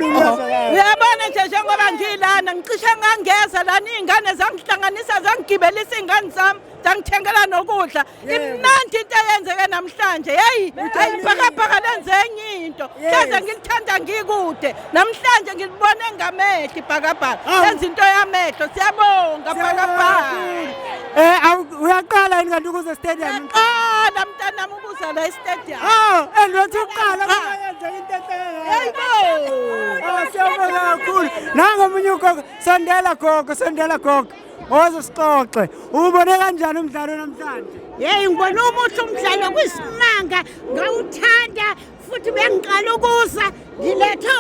uyabona nje njengoba ngilana ngicishe ngangeza lana iy'ngane zangihlanganisa zangigibelisa iy'ngane zami zangithengela nokudla imnandi into eyenzeke namhlanje yeyi ayi bhakabhaka lenze enye into hleze ngilithanda ngikude namhlanje ngilibone ngamehlo ibhakabhaka lenza into yamehlo siyabonga bhakabhaka um eh, uyaqala yini kanti ukuze stadium qala mntanam Uzala istadium. Ah, engathi uqala kuyenza into enhle. Hayibo. Ah, siyabonga kakhulu. Nango omunye ugogo, sondela gogo, sondela gogo. Oze sixoxe. Ubone kanjani umdlalo namhlanje? Hey, ngibona umuhle umdlalo kwisimanga, ngawuthanda futhi bengiqala ukuza ngilethe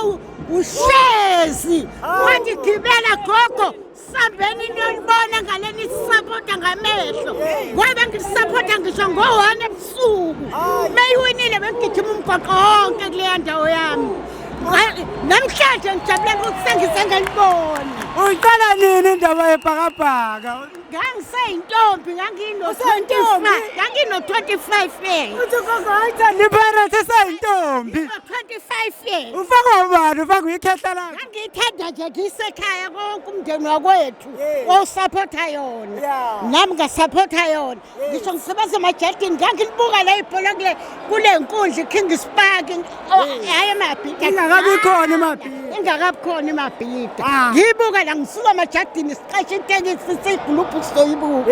ushezi. Wandigibela gogo. sambeni niyolibona ngale nisisapota ngamehlo ngoba bengisisapota ngisho ngo-one ebusuku meyiwinile bengigijima umgwaqo wonke kuleya ndawo yami namhlanje ngijabulele ukuthi sengize ngalibona uyiqala nini indaba yebhakabhaka ngangiseyintombi ngangino-25 yearsnipirate eseyintombi ufakwa ubani ufakwa ikhehla lakhe ngiyithanda nje ngiyisekhaya konke umndeni wakwethu owusaphotha yona nami ngasaphotha yona ngisho ngisebenza emajadini ngangilibuka le ibhola kule kule nkundla i-king spark oh, hhayi emabhida ingakabi khona emabhida ingakabi khona emabhida ah. ngiyibuka la ngisuka emajadini siqashe itekisi siyiguluphu sizoyibuka